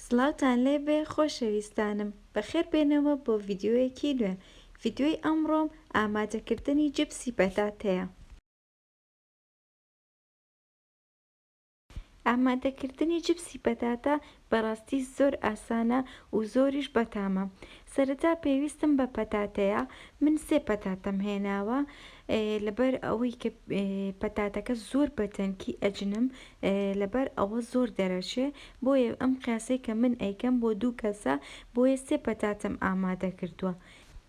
سڵاوتان لێ بێ خۆشەویستانم، بەخێر بێنەوە بۆ ڤیدیۆیەکی نوێ، ڤیدیۆی ئەمڕۆم ئامادەکردنی جبسی پەتاتەیە. ئامادەکردنی جبسی پەتاتە بەڕاستی زۆر ئاسانە و زۆریش بەتامە. سەرەتا پێویستم بە پەتاتەیە، من سێ پەتاتەم هێناوە، لەبەر ئەوەی کە پەتاتەکە زۆر بە تەنکی ئەجنم لەبەر ئەوە زۆر دەرەچێ بۆیە ئەم قیاسەی کە من ئەیکەم بۆ دوو کەسە بۆیە سێ پەتاتەم ئامادە کردوە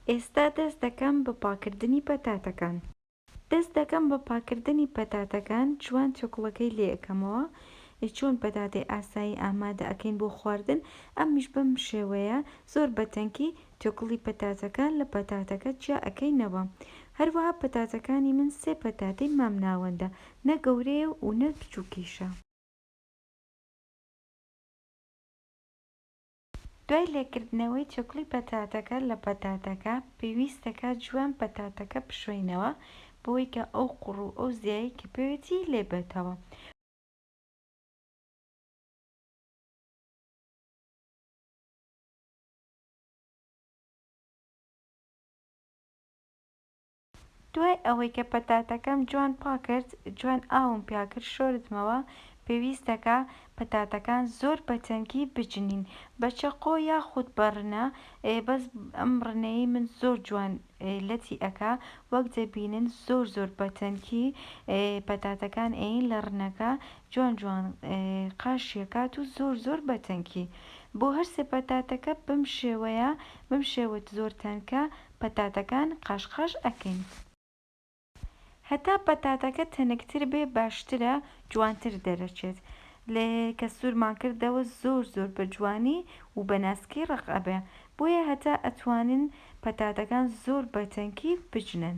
ئێستا دەست دەکەم بە پاکردنی پەتاتەکان. دەست دەکەم بە پاکردنی پەتاتەکان جوان توکڵەکەی لێ ئەکەمەوە چۆن پەتاتەی ئاسایی ئامادە ئەکەین بۆ خواردن ئەمیش بەم شێوەیە زۆر بە تەنکی تێکوڵی پەتاتەکە لە پەتاتەکە جیا ئەکەینەوە هەروەها پەتاتەکانی من سێ پەتاتەی مامناوەندە نە گەورەیە و نە بچوکیشە. دوای لێکردنەوەی تێکوڵی پەتاتەکە لە پەتاتەکە پێویستە کە جوان پەتاتەکە بشۆینەوە بەوەی کە ئەو قوڕ و ئەو زیایەی کە پێوێتی لێ بێتەوە. دوای ئەوەی کە پەتاتەکەم جوان پاکرد جوان ئاوم پیاکرد شۆردمەوە پێویستەکا پەتاتەکان زۆر بە تەنکی بجنین بە چەقۆ یاخود بە ڕنە بەس ئەم ڕنەی من زۆر جوان لەتی ئەکا وەک دەبینن زۆر زۆر بە تەنکی پەتاتەکان ئەین لە ڕنەکە جوان جوان قاش یەکات و زۆر زۆر بە تەنکی بۆ هەر سێ پەتاتەکە بەم شێوەیە بەم شێوەت زۆر تەنکە پەتاتەکان قاش قاش ئەکەین هەتا پەتاتەکە تەنکتر بێ باشترە جوانتر دەرەچێت لە کە سورمان کردەوە زۆر زۆر بە جوانی و بە ناسکی ڕەق ئەبێ بۆیە هەتا ئەتوانن پەتاتەکان زۆر بە تەنکی بجنن.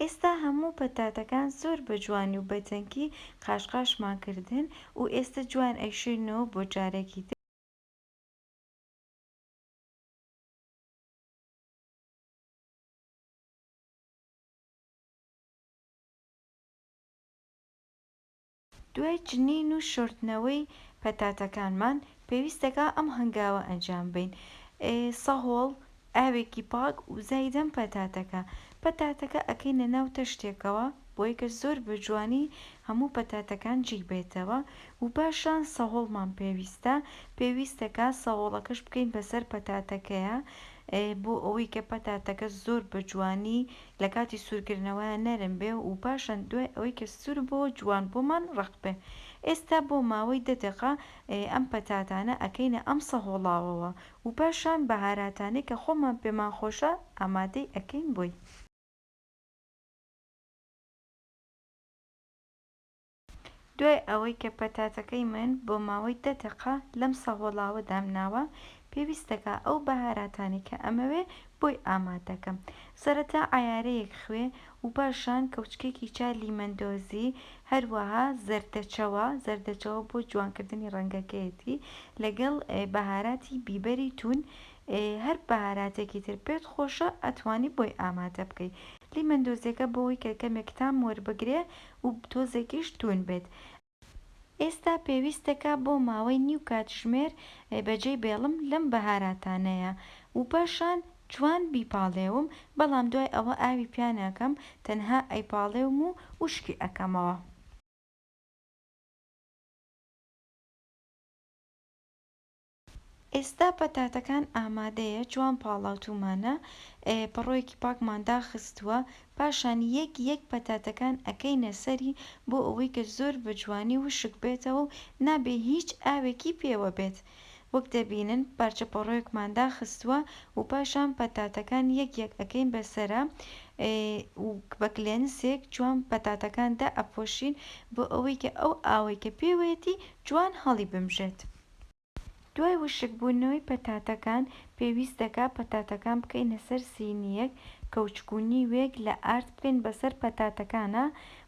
ئێستا هەموو پەتاتەکان زۆر بە جوانی و بە تەنکی قاشقاشمان کردن و ئێستە جوان ئەیشۆینەوە بۆ جارێکی تر. دوای جنین و شۆردنەوەی پەتاتەکانمان، پێویست دەکا ئەم هەنگاوە ئەنجام بەین، ئێ سەهۆڵ، ئاوێکی پاک و زایدەم پەتاتەکە، پەتاتەکە ئەکەینە ناو تەشتێکەوە بۆی کە زۆر بە جوانی هەموو پەتاتەکان جیک بێتەوە و پاشان سەهۆڵمان پێویستە، پێویست دەکا سەهۆڵەکەش بکەین بەسەر پەتاتەکەیا بۆ ئەوەی کە پەتاتەکە زۆر بە جوانی لە کاتی سورکردنەوەیا نەرم بێ و پاشان دوای ئەوەی کە سور بۆوە جوان بۆمان ڕەق بێ ئێستا بۆ ماوەی دە دەقە ئەم پەتاتانە ئەکەینە ئەم سەهۆڵاوەوە و پاشان بەهاراتانەی کە خۆمان پێمان خۆشە ئامادەی ئەکەین بۆی. دوای ئەوەی کە پەتاتەکەی من بۆ ماوەی دە دەقە لەم سەهۆڵاوە دامناوە، پێویست دەکا ئەو بەهاراتانەی کە ئەمەوێ بۆی ئامادە کەم. سەرەتا عەیارەیەک خوێ و پاشان کەوچکێکی چا لیمەندۆزی هەروەها زەردەچەوە، زەردەچەوە بۆ جوانکردنی ڕەنگەکەیەتی، لەگەڵ بەهاراتی بیبەری توون، هەر بەهاراتێکی تر پێت خۆشە ئەتوانی بۆی ئامادە بکەی. لیمەندۆزیەکە بۆ ئەوەی کە کەمێک تام وەربگرێ و تۆزێکیش توون بێت ئێستا پێویستەکە بۆ ماوەی نیو کاتژمێر بە جێی بێڵم لەم بەهاراتانەیا و پاشان جوان بیپاڵێوم بەڵام دوای ئەوە ئاوی پیا ناکەم تەنها ئەیپاڵێوم و وشکی ئەکەمەوە. ئێستا پەتاتەکان ئامادەیە جوان پاڵاوتومانە پەڕۆیەکی پاکمان داخستوە پاشان یەک یەک پەتاتەکان ئەکەینە سەری بۆ ئەوەی کە زۆر بە جوانی وشک بێتەوە و نابێ هیچ ئاوێکی پێوە بێت وەک دەبینن پارچە پەڕۆیەکمان داخستوە و پاشان پەتاتەکان یەک یەک ئەکەین بەسەرا و بە کلێنسێک جوان پەتاتەکان دائەپۆشین بۆ ئەوەی کە ئەو ئاوەی کە پێوەیەتی جوان هەڵی بمژێت. دوای وشک بونەوەی پەتاتەکان پێویست دەکات پەتاتەکان بکەینە سەر سینیەک کەوچکو نیوێک لە ئارد بکەین بەسەر پەتاتەکانا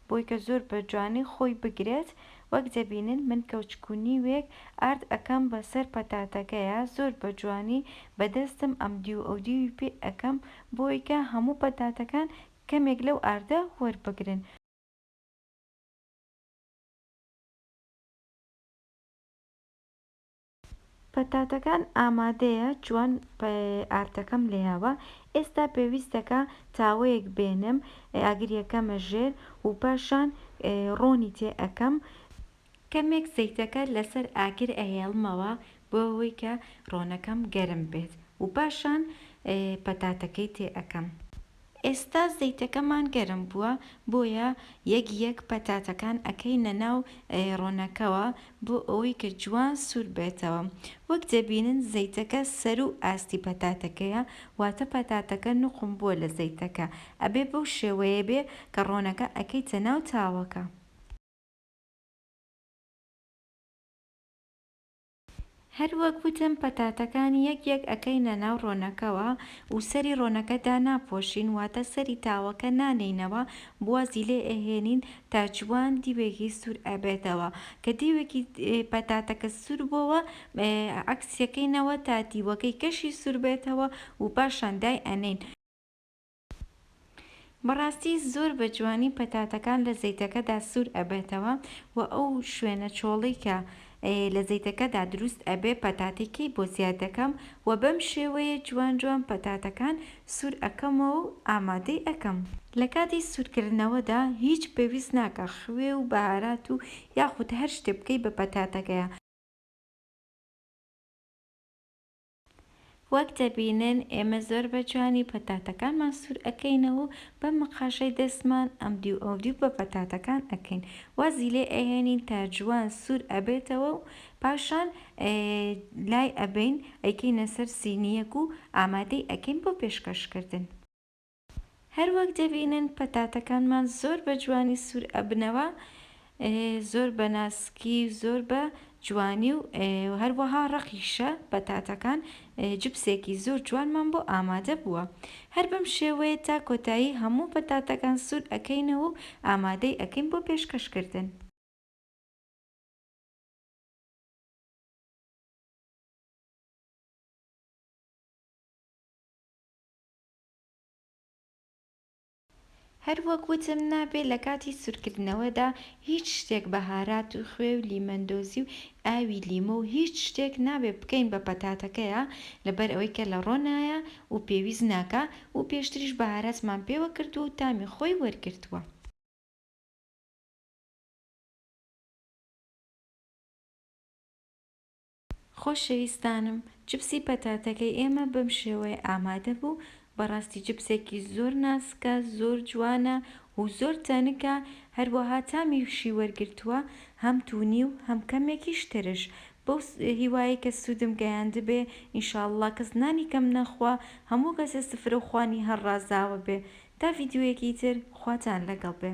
بۆی کە زۆر بە جوانی خۆی بگرێت وەک دەبینن من کەوچکو نیوێک ئارد ئەکەم بەسەر پەتاتەکەیا زۆر بە جوانی بە دەستم ئەم دیو ئەو دیوی پێ ئەکەم بۆی کە هەموو پەتاتەکان کەمێک لەو ئاردە وەربگرن. پەتاتەکان ئامادەیە جوان ئارتەکەم لێیاوە ئێستا پێویستەکە تاوەیەک بێنم ئاگری ئەکەمە ژێر و پاشان ڕۆنی تێ ئەکەم. کەمێک زەیتەکە لەسەر ئاگر ئەهێڵمەوە بۆ ئەوەی کە ڕۆنەکەم گەرم بێت و پاشان پەتاتەکەی تێ ئەکەم. ئێستا زەیتەکەمان گەرم بووە بۆیە یەک یەک پەتاتەکان ئەکەینە ناو ڕۆنەکەوە بۆ ئەوەی کە جوان سوور بێتەوە وەک دەبینن زەیتەکە سەروو ئاستی پەتاتەکەیە واتە پەتاتەکە نوقم بووە لە زەیتەکە ئەبێ بەو شێوەیە بێ کە ڕۆنەکە ئەکەیتە ناو تاوەکە. هەر وەک وتم پەتاتەکان یەک یەک ئەکەینە ناو ڕۆنەکەوە و سەری ڕۆنەکە داناپۆشین واتە سەری تاوەکە نانێینەوە بوازی لێ ئەهێنین تا جوان دیوێکی سور ئەبێتەوە کە دیوێکی پەتاتەکە سور بۆوە عەکسیەکەینەوە تا دیوەکەی کەشی سور بێتەوە و پاشان دای ئەنێین. بەڕاستی زۆر بە جوانی پەتاتەکان لە زەیتەکەدا سور ئەبێتەوە و ئەو شوێنە چۆڵەی کە لە زەیتەکەدا دروست ئەبێ پەتاتەکەی بۆ زیاد دەکەم و بەم شێوەیە جوان جوان پەتاتەکان سور ئەکەمەوە و ئامادەی ئەکەم. لە کاتی سور کردنەوەدا هیچ پێویست ناکا خوێ و بەهارات و یاخود هەر شتێ بکەی بە پەتاتەکەیا. وەک دەبینن ئێمە زۆر بە جوانی پەتاتەکانمان سور ئەکەینەوە و بە مقاشەی دەستمان ئەمدیو ئەودیو بە پەتاتەکان ئەکەین وازی لێ ئەهێنین تا جوان سور ئەبێتەوە و پاشان لای ئەبەین ئەیکەینە سەر سینیەک و ئامادەی ئەکەین بۆ پێشکەش کردن. هەروەک دەبینن پەتاتەکانمان زۆر بە جوانی سور ئەبنەوە زۆر بە ناسکی و زۆر بە جوانی و هەروەها ڕەقیشە پەتاتەکان جبسێکی زۆر جوانمان بۆ ئامادە بووە هەر بەم شێوەیە تا کۆتایی هەموو پەتاتەکان سور ئەکەینەوە و ئامادەی ئەکەین بۆ پێشکەش کردن. هەر وەک وتم نابێ لە کاتی سورکردنەوەدا هیچ شتێک بەهارات و خوێ و لیمەندۆزی و ئاوی لیمۆ و هیچ شتێک نابێ بکەین بە پەتاتەکەیا لەبەر ئەوەی کە لە ڕۆنایە و پێویست ناکا و پێشتریش بەهاراتمان پێوە کردووە و تامی خۆی وەرگرتووە. خۆشەویستانم چپسی پەتاتەکەی ئێمە بەم شێوەیە ئامادە بوو بەڕاستی چپسێکی زۆر ناسکە زۆر جوانە و زۆر تەنکە هەروەها تامیشی وەرگرتووە هەم توونی و هەم کەمێکیش ترش بەو هیوایەی کە سوودم گەیاندبێ ان شاء اللە کەس نانی کەم نەخوا هەموو کەسێ سفرە و خوانی هەر ڕازاوە بێ تا ڤیدیۆیەکی تر خواتان لەگەڵ بێ.